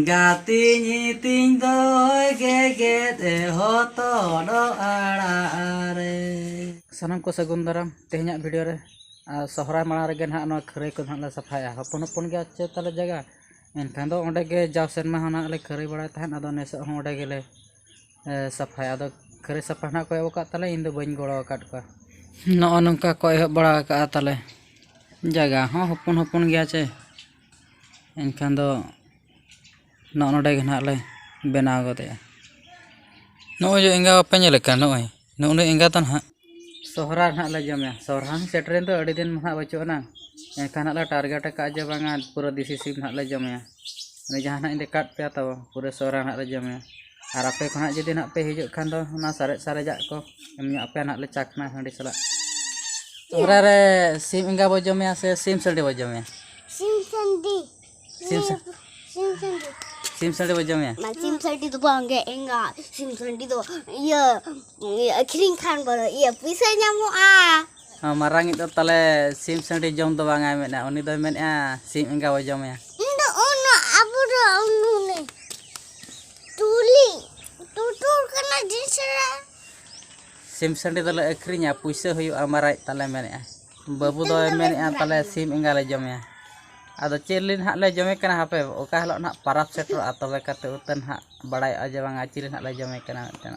ᱜᱟᱛᱮᱧ ᱤᱛᱤᱧ ᱫᱚᱭ ᱜᱮᱜᱮᱫ ᱮ ᱦᱚᱛᱚᱫ ᱟᱲᱟᱜ ᱨᱮ ᱥᱟᱱᱟᱢ ᱠᱚ ᱥᱟᱹᱜᱩᱱ ᱫᱟᱨᱟᱢ ᱛᱮᱦᱮᱧᱟᱜ ᱵᱷᱤᱰᱤᱭᱳ ᱨᱮ ᱟᱨ ᱥᱚᱦᱨᱟᱭ ᱢᱟᱲᱟᱝ ᱨᱮᱜᱮ ᱱᱟᱦᱟᱜ ᱱᱚᱣᱟ ᱠᱷᱟᱹᱨᱟᱹᱭ ᱠᱚ ᱱᱟᱦᱟᱜ ᱞᱮ ᱥᱟᱯᱷᱟᱭᱟ ᱦᱚᱯᱚᱱ ᱦᱚᱯᱚᱱ ᱜᱮᱭᱟ ᱪᱮ ᱛᱟᱞᱮ ᱡᱟᱭᱜᱟ ᱮᱱᱠᱷᱟᱱ ᱫᱚ ᱚᱸᱰᱮ ᱜᱮ ᱡᱟᱣ ᱥᱮᱨᱢᱟ ᱦᱚᱸ ᱱᱟᱦᱟᱜ ᱞᱮ ᱠᱷᱟᱹᱨᱟᱹᱭ ᱵᱟᱲᱟᱭ ᱛᱟᱦᱮᱸᱫ ᱟᱫᱚ ᱱᱮᱥᱚᱜ ᱦᱚᱸ ᱚᱸᱰᱮ ᱜᱮᱞᱮ ᱥᱟᱯᱷᱟᱭᱟ ᱟᱫᱚ ᱠᱷᱟᱹᱨᱟᱹᱭ ᱥᱟᱯᱷᱟ ᱱᱟᱦᱟᱜ ᱠᱚ ᱮᱦᱚᱵ ᱟᱠᱟᱫ ᱛᱟᱞᱮ ᱤᱧ ᱫᱚ ᱵᱟᱹᱧ ᱜᱚᱲᱚ ᱟᱠᱟᱫ ᱠᱚᱣᱟ ᱱᱚᱜᱼᱚ ᱱᱚᱝᱠᱟ ᱠᱚ ᱮᱦᱚᱵ ᱵᱟᱲᱟ ᱟᱠᱟᱫᱼᱟ ᱛᱟᱞᱮ ᱡᱟᱭᱜᱟ ᱦᱚᱸ ᱦᱚᱯᱚᱱ ᱦᱚᱯᱚᱱ ᱜᱮᱭᱟ ᱪᱮ ᱮᱱᱠᱷᱟᱱ ᱫᱚ ᱱᱚᱜᱼᱚ ᱱᱚᱰᱮ ᱜᱮ ᱦᱟᱸᱜ ᱞᱮ ᱵᱮᱱᱟᱣ ᱜᱚᱫᱮᱜᱼᱟ ᱱᱚᱜᱼᱚᱭ ᱡᱮ ᱮᱸᱜᱟ ᱵᱟᱯᱮ ᱧᱮᱞᱮ ᱠᱟᱱ ᱱᱚᱜᱼᱚᱭ ᱱᱩᱜᱼᱱᱩᱭ ᱮᱸᱜᱟ ᱫᱚ ᱦᱟᱸᱜ ᱥᱚᱦᱚᱨᱟᱭ ᱦᱟᱸᱜ ᱞᱮ ᱡᱚᱢᱮᱭᱟ ᱥᱚᱦᱚᱨᱟᱭ ᱦᱚᱸ ᱥᱮᱴᱮᱨᱮᱱ ᱫᱚ ᱟᱹᱰᱤ ᱫᱤᱱ ᱢᱟ ᱦᱟᱸᱜ ᱵᱟᱹᱪᱩᱜ ᱟᱱᱟᱝ ᱮᱱᱠᱷᱟᱱ ᱦᱟᱸᱜ ᱞᱮ ᱴᱟᱨᱜᱮᱴ ᱠᱟᱜᱼᱟ ᱡᱮ ᱵᱟᱝᱟ ᱯᱩᱨᱟᱹ ᱫᱮᱥᱤ ᱥᱤᱢ ᱦᱟᱸᱜ ᱞᱮ ᱡᱚᱢᱮᱭᱟ ᱩᱱᱤ ᱡᱟᱦᱟᱸᱭ ᱦᱟᱸᱜ ᱮ ᱠᱟᱴ ᱯᱮᱭᱟ ᱛᱟᱵᱚ ᱯᱩᱨᱟᱹ ᱥᱚᱦᱚᱨᱟᱭ ᱦᱟᱸᱜ ᱞᱮ ᱡᱚᱢᱮᱭᱟ ᱟᱨ ᱟᱯᱮ ᱠᱚ ᱦᱟᱸᱜ ᱡᱩᱫᱤ ᱦᱟᱸᱜ ᱯᱮ ᱦᱤᱡᱩᱜ ᱠᱷᱟᱱ ᱫᱚ ᱚᱱᱟ ᱥᱟᱨᱮᱡ ᱥᱟᱨᱮᱡᱟᱜ ᱠᱚ ᱮᱢ ᱧᱚᱜ ᱟᱯᱮᱭᱟ ᱦᱟᱸᱜ ᱞᱮ ᱪᱟ ᱠᱷᱚᱱᱟᱜ ᱦᱟᱺᱰᱤ ᱥᱟᱞᱟᱜ ᱥᱚᱦᱨᱟᱭ ᱨᱮ ᱥᱤᱢ ᱮᱸᱜᱟ ᱵᱚ ᱡᱚᱢᱮᱭᱟ ᱥᱮ ᱥᱤᱢ ᱥᱟᱺᱰᱤ ᱵᱚ ᱡᱚᱢᱮᱭᱟ ᱥᱤᱢ ᱥᱟᱺᱰᱤ ᱥᱤᱢ ᱥᱤᱢ ᱥᱟᱺᱰᱤ ᱥᱤᱢ ᱥᱟᱺᱰᱤ ᱵᱚ ᱡᱚᱢᱮᱭᱟ ᱢᱟ ᱥᱤᱢ ᱥᱟᱺᱰᱤ ᱫᱚ ᱵᱟᱝᱜᱮ ᱮᱸᱜᱟ ᱥᱤᱢ ᱥᱟᱺᱰᱤ ᱫᱚ ᱤᱭᱟᱹ ᱟᱹᱠᱷᱨᱤᱧ ᱠᱷᱟᱱ ᱵᱚ ᱤᱭᱟᱹ ᱯᱩᱭᱥᱟᱹ ᱧᱟᱢᱚᱜᱼᱟ ᱢᱟᱨᱟᱝᱤᱡ ᱫᱚ ᱛᱟᱦᱞᱮ ᱥᱤᱢ ᱥᱟᱺᱰᱤ ᱡᱚᱢ ᱫᱚ ᱵᱟᱝᱟᱭ ᱢᱮᱱᱟ ᱩᱱᱤ ᱫᱚᱭ ᱢᱮᱱᱮᱜᱼᱟ ᱥᱤᱢ ᱮᱸᱜᱟ ᱵᱚ ᱡᱚᱢᱮᱭᱟ ᱛᱩᱞᱤ ᱴᱩᱴᱩᱨ ᱠᱟᱱᱟ ᱡᱤᱥᱨᱟ ᱥᱤᱢ ᱥᱟᱺᱰᱤ ᱫᱚᱞᱮ ᱟᱹᱠᱷᱨᱤᱧᱟ ᱯᱩᱭᱥᱟᱹ ᱦᱩᱭᱩᱜᱼᱟ ᱢᱟᱨᱟᱡ ᱛᱟᱞᱮ ᱢᱮᱱᱮᱜᱼᱟ ᱵᱟᱹᱵᱩ ᱫᱚᱭ ᱢᱮᱱᱮᱜᱼᱟ ᱛᱟᱞᱮ ᱥᱤᱢ ᱮᱸᱜᱟ ᱞᱮ ᱡᱚᱢᱮᱭᱟ ᱟᱫᱚ ᱪᱮᱫ ᱞᱤᱱ ᱦᱟᱸᱜ ᱞᱮ ᱡᱚᱢᱮ ᱠᱟᱱᱟ ᱦᱟᱯᱮ ᱚᱠᱟ ᱦᱤᱞᱳᱜ ᱱᱟᱜ ᱯᱟᱨᱟᱵᱽ ᱥᱮᱴᱮᱨᱚᱜᱼᱟ ᱛᱚᱵᱮ ᱠᱟᱛᱮ ᱩᱛᱟᱹᱱ ᱦᱟᱸᱜ ᱵᱟᱲᱟᱭᱚᱜᱼᱟ ᱡᱮ ᱵᱟᱝᱟ ᱪᱤᱞᱤ ᱦᱟᱸᱜ ᱞᱮ ᱡᱚᱢᱮ ᱠᱟᱱᱟ ᱢᱤᱫᱴᱮᱱ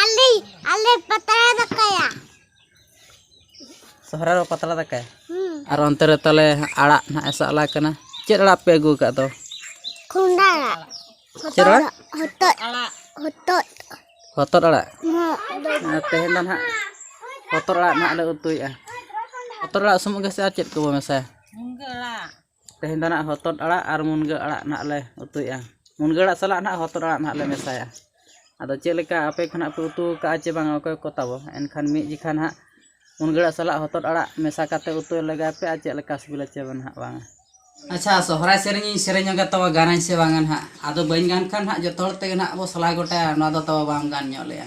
ᱟᱞᱮ ᱟᱞᱮ ᱯᱟᱛᱲᱟ ᱫᱟᱠᱟᱭᱟ ᱥᱚᱦᱨᱟᱭ ᱨᱮ ᱯᱟᱛᱲᱟ ᱫᱟᱠᱟ ᱟᱨ ᱚᱱᱛᱮ ᱨᱮ ᱛᱟᱦᱚᱞᱮ ᱟᱲᱟᱜ ᱱᱟᱦᱟᱜ ᱮ ᱥᱟᱵ ᱞᱟᱜ ᱠᱟᱱᱟ ᱪᱮᱫ ᱟᱲᱟᱜ ᱯᱮ ᱟᱹᱜᱩ ᱟᱠᱟᱫ ᱫᱚ ᱠᱩᱸᱰᱟ ᱟᱲᱟᱜ ᱪᱮᱫ ᱟᱲᱟᱜ ᱦᱚᱛᱚᱫ ᱟᱲᱟᱜ ᱦᱚᱛᱚᱫ ᱦᱚᱛᱚᱫ ᱟᱲᱟᱜ ᱟᱨ ᱛᱮᱦᱮᱧ ᱫᱚ ᱱᱟᱦᱟᱜ ᱦᱚᱛᱚᱫ ᱟᱲᱟᱜ ᱱᱟᱦᱟᱜ ᱞᱮ ᱩᱛᱩᱭᱮᱫᱼᱟ ᱦᱚᱛᱚᱫ ᱟᱲᱟᱜ ᱥᱩᱢᱩᱝ ᱜᱮᱥᱮ ᱟᱨ ᱪᱮᱫ ᱠᱚᱵᱚ ᱢᱮᱥᱟᱭᱟ ᱢᱩᱱᱜᱟᱹ ᱟᱲᱟᱜ ᱛᱮᱦᱮᱧ ᱫᱚ ᱱᱟᱦᱟᱜ ᱦᱚᱛᱚᱫ ᱟᱲᱟᱜ ᱟᱨ ᱢᱩᱱᱜᱟᱹ ᱟᱲᱟᱜ ᱱᱟᱦᱟᱜ ᱞᱮ ᱩᱛᱩᱭᱮᱜᱼᱟ ᱢᱩᱱᱜᱟᱹ ᱟᱲᱟᱜ ᱥᱟᱞᱟᱜ ᱱᱟᱦᱟᱜ ᱦᱚᱛᱚᱫ ᱟᱲᱟᱜ ᱱᱟᱦᱟᱜ ᱞᱮ ᱢᱮᱥᱟᱭᱟ ᱟᱫᱚ ᱪᱮᱫ ᱞᱮᱠᱟ ᱟᱯᱮ ᱠᱚ ᱱᱟᱦᱟᱜ ᱯᱮ ᱩᱛᱩ ᱠᱟᱜᱼᱟ ᱪᱮ ᱵᱟᱝᱟ ᱚᱠᱚᱭ ᱠᱚ ᱛᱟᱵᱚ ᱮᱱᱠᱷᱟᱱ ᱢᱤᱫ ᱡᱚᱠᱷᱟ ᱱᱟᱦᱟᱜ ᱢᱩᱱᱜᱟᱹ ᱟᱲᱟᱜ ᱥᱟᱞᱟᱜ ᱦᱚᱛᱚᱫ ᱟᱲᱟᱜ ᱢᱮᱥᱟ ᱠᱟᱛᱮ ᱩᱛᱩ ᱞᱮᱜᱟᱭ ᱯᱮ ᱟᱨ ᱪᱮᱫ ᱞᱮᱠᱟ ᱥᱤᱵᱤᱞᱟ ᱪᱮ ᱱᱟᱦᱟᱜ ᱵᱟᱝᱟ ᱟᱪᱪᱷᱟ ᱥᱚᱦᱨᱟᱭ ᱥᱮᱨᱮᱧ ᱤᱧ ᱥᱮᱨᱮᱧ ᱧᱚᱜᱟ ᱛᱚᱵᱮ ᱜᱟᱱᱟᱹᱧ ᱥᱮ ᱵᱟᱝᱟ ᱱᱟᱦᱟᱜ ᱟᱫᱚ ᱵᱟᱹᱧ ᱜᱟᱱ ᱠᱷᱟᱱ ᱱᱟᱦᱟᱜ ᱡᱚᱛᱚ ᱦᱚᱲ ᱛᱮᱜᱮ ᱱᱟᱦᱟᱜ ᱵᱚ ᱥᱟᱞᱟ ᱜᱚᱴᱟᱭᱟ ᱱᱚᱣᱟ ᱫᱚ ᱛᱟᱵᱚ ᱵᱟᱢ ᱜᱟᱱ ᱧᱚᱜ ᱞᱮᱜᱼᱟ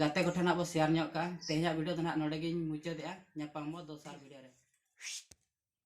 ᱜᱟᱛᱮ ᱠᱚ ᱴᱷᱮᱱ ᱦᱟᱸᱜ ᱵᱚ ᱥᱮᱭᱟᱨ ᱧᱚᱜ ᱠᱟᱜᱼᱟ ᱛᱮᱦᱮᱧᱟᱜ ᱵᱷᱤᱰᱤᱭᱳ ᱫᱚ ᱦᱟᱸᱜ ᱱᱚᱰᱮ ᱜᱤᱧ ᱢᱩᱪᱟᱹᱫᱮᱜᱼᱟ ᱧᱟᱯᱟᱢ ᱟᱵᱚ ᱫᱚᱥᱟᱨ ᱵᱷᱤᱰᱤᱭᱳ ᱨᱮ